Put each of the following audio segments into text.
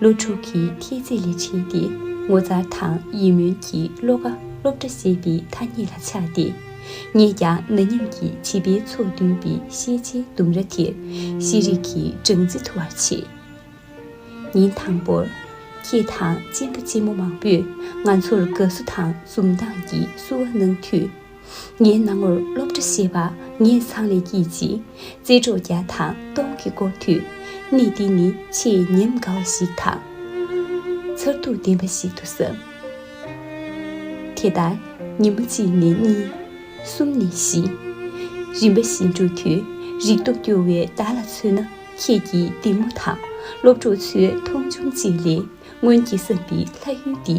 སློབ་ཕྲུག་གི་མཐིལ་རྩེ་ལས་ཕྱིན་ཏེ་ངོ་མཚར་དང་ཡིད་སྨོན་གྱི་བློ་ཁ་སློབ་གྲྭ་ཞེས་པའི་ཐ་སྙད་ལ་ཆགས་ཏེ། ངས་ཀྱང་ན་མཉམ་གྱི་བྱིས་པའི་ཚོགས་བསྡུས་པའི་ཤེས་བྱའི་ལྡུམ་ར་དེར་ཤེས་རིག་གི་སྦྲང་རྩི་འཐུ་བར་བྱེད། ཉིན་དང་པོར། ཁྱེད་དང་གཅེན་པོ་གཅེན་མོ་མང་པོས་ང་ཚོར་དགའ་བསུ་དང་འཛུམ་མདངས་ཀྱིས་བསུ་བ་གནང་དུས། ངའི་སྣང་ངོར་སློབ་གྲྭ་ཞེས་པ་ངས་ཚང་ནས་སྐྱིད་ཅིག། རྩེད་གྲོགས་བརྒྱ་དང་སྟོང་གིས་བསྐོར་དུས། གནས་འདི་ནི་ཆེས་ཉམས་དགའ་བ་ཞིག་དང། མཚར་སྡུག་ལྡན་པ་ཞིག་ཏུ་བསམ། དེ་ལྟར་ཉིན་མོ་གཅིག་ནས་གཉིས། གསུམ་ནས་བཞི། རིམ་པ་བཞིན་འགྲོ་དུས་རིག་སྟོབས་སྐྱོ་བའི་བདག་ལ་མཚོན་ན་ཁྱེད་ཀྱིས་སྡིགས་མོ་དང་སློབ་གྲོགས་ཚོའི་མཐོང་ཆུང་བཅས་ལས། སྔོན་གྱི་ས་འདི་ལྷ་ཡུལ་འདི་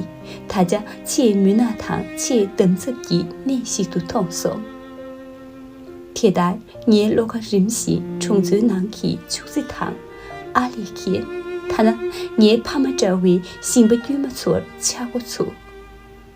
ད་ཆ་ཆེས་མུན་ནག་དང་ཆེས་འདམ་རྫབ་ཀྱི་གནས་ཤིག་ཏུ་མཐོང་སོང། དེ་ལྟར་ངའི་བློ་ཁ་རིམ་བཞིན་གྲོང་ཚོའི་ནང་གི་ཕྱུགས་རྫི་དང། ཨ་ལེ་ཁེ། ཐ་ན་ངའི་ཕ་མ་འདྲ་བའི་ཤིང་པ་དཀྱུས་མ་ཚོར་ཆག་སྒོ་ཚུགས།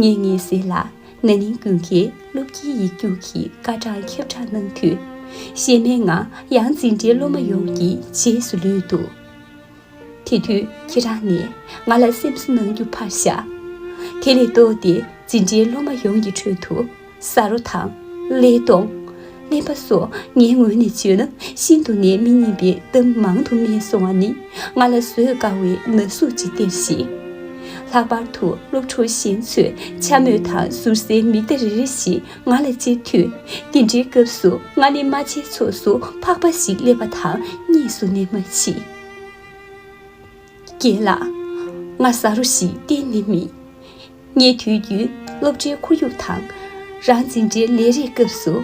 ངེད་གཉིས་སྲིད་ལ་ན་ནིང་ཀུན་མཁྱེན་སློབ་དགེའི་ཡིག་རྒྱུགས་ཀྱི་སྐར་གྲངས་ཁྱབ་བསྒྲགས་གནང་དུས། ཤེས་མེད་ངང་ཡང་འཛིན་གྲྭའི་སློབ་མ་ཡོངས་ཀྱི་རྗེས་སུ་ལུས་འདུག་དེ་དུས་ཁྱེད་རང་ནས་ང་ལ་སེམས་གསོ་གནང་རྒྱུ་ཕར་བཞག་དེ་ལས་ལྡོག་སྟེ་འཛིན་གྲྭའི་སློབ་མ་ཡོངས་ཀྱི་ཁྲོད་དུ། ས་རོ་དང། ཀླད་སྟོང། ཀླད་པ་སོགས་ངའི་ངོས་ནས་བརྗོད་ན་ཤིན་ཏུ་ནས་མི་སྙན་པའི་གཏམ་མང་དུ་སྨྲས་སོང་བ་ནི་ང་ལ་བཟོད་དཀའ་བའི་ན་ཟུག་ཅིག་སྟེར་ཞིང། ལྷག་པར་དུ་སློབ་ཕྲུག་གཞན་ཚོས་འཕྱ་སྨོད་དང་ཟུར་ཟའི་མིག་བརྡ་རེ་རེ་བཞིན་ང་ལ་བཅད་དུས། དེ་འདྲའི་སྐབས་སུ་ང་ནི་རྨ་བྱའི་ཚོགས་སུ་འཕགས་པ་ཞིག་སླེབས་པ་དང་གཉིས་སུ་ནས་མ་མཆིས། རྒན་ལགས། ང་ས་རོ་ཞིག་གཏན་ནས་མིན། སྙེ་དུས་བརྒྱུད་སློབ་གྲྭའི་ཁོར་ཡུག་དང། རང་འཛིན་གྲྭའི་ལས་རེས་སྐབས་སུ།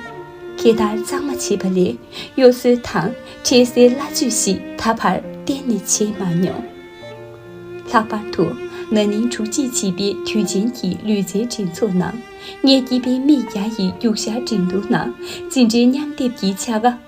ཁྱེད་ལྟར་གཙང་མ་བྱེད་པ་ལས་གཡོ་ཟོལ་དང་འཁྲེལ་སེལ་སླ་བཅོས་ཤིག་ད་བར་གཏན་ནས་བྱས་མ་མྱོང། ལྷག་པར་དུ་ན་ནིང་དྲུག་གཅིག་བྱིས་པའི་དུས་ཆེན་གྱི་ལུས་རྩལ་འགྲན་ཚོགས་ནང་སྙེ་སྐྱིད་པའི་མིག་བརྒྱ་ཡི་རྒྱུག་ཤར་འགྲན་བསྡུར་ནང་འཛིན་གྲྭའི་མཉམ་སྡེབ་ཀྱི་བྱ་དགའ།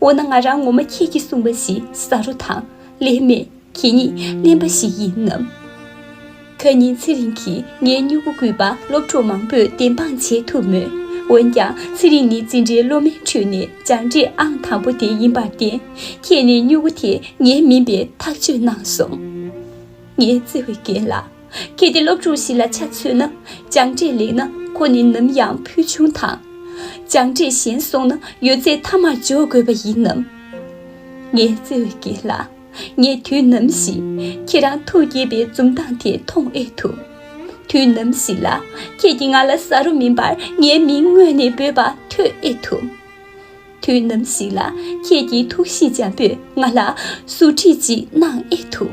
འོ་ན་ང་རང་ངོ་མ་ཁྱེད་ཀྱིས་གསུངས་པ་བཞིན་ས་རུ་དང་ལེན་མེད་ཁྱེད་ཉིད་གླེན་པ་ཞིག་ཡིན་ནམ། ཁ་ཉིན་ཚེ་རིང་གིས་ངའི་སྨྱུ་གུ་གུས་པ་སློབ་གྲོགས་མང་པོས་བདེན་དཔང་བྱེད་ཐུབ་མོད། འོན་ཀྱང་ཚེ་རིང་ནི་འཛིན་གྲྭའི་སློབ་མའི་ཁྲོད་ནས་སྦྱངས་འབྲས་ཨང་དང་པོ་དེ་ཡིན་པར་བརྟེན་ཁྱེད་ནི་སྨྱུ་གུ་དེ་ངའི་མིན་པའི་ཐག་གཅོད་གནང་སོང། ངས་བརྩེ་བའི་རྒན་ལགས། གལ་ཏེ་སློབ་ཕྲུག་ཞིག་ལ་ཆ་མཚོན་ན་སྦྱངས་འབྲས་ལེགས་ན་ཁོ་ནི་ནམ་ཡང་ཕུལ་བྱུང་དང། སྦྱངས་འབྲས་ཞན་སོང་ན་ཡོད་ཚད་མཐའ་མར་འཇོག་དགོས་པ་ཡིན་ནམ། ངའི་བརྩེ་བའི་རྒན་ལགས། ངས་དུས་ནམ་ཞིག་ཁྱེད་རང་ཐུགས་དགྱེས་པའི་འཛུམ་མདངས་དེ་མཐོང་ཨེ་ཐུབ། དུས་ནམ་ཞིག་ལ་ཁྱེད་ཀྱིས་ང་ལ་ཟ་རོ་མིན་པར་ངའི་མིང་སྔོན་ནས་འབོད་པ་ཐོས་ཨེ་ཐུབ། དུས་ནམ་ཞིག་ལ་ཁྱེད་ཀྱིས་ཐུགས་གཤིས་འཇམ་པོས་ང་ལ་ཟུར་ཁྲིད་ཅིག་གནང་ཨེ་ཐུབ།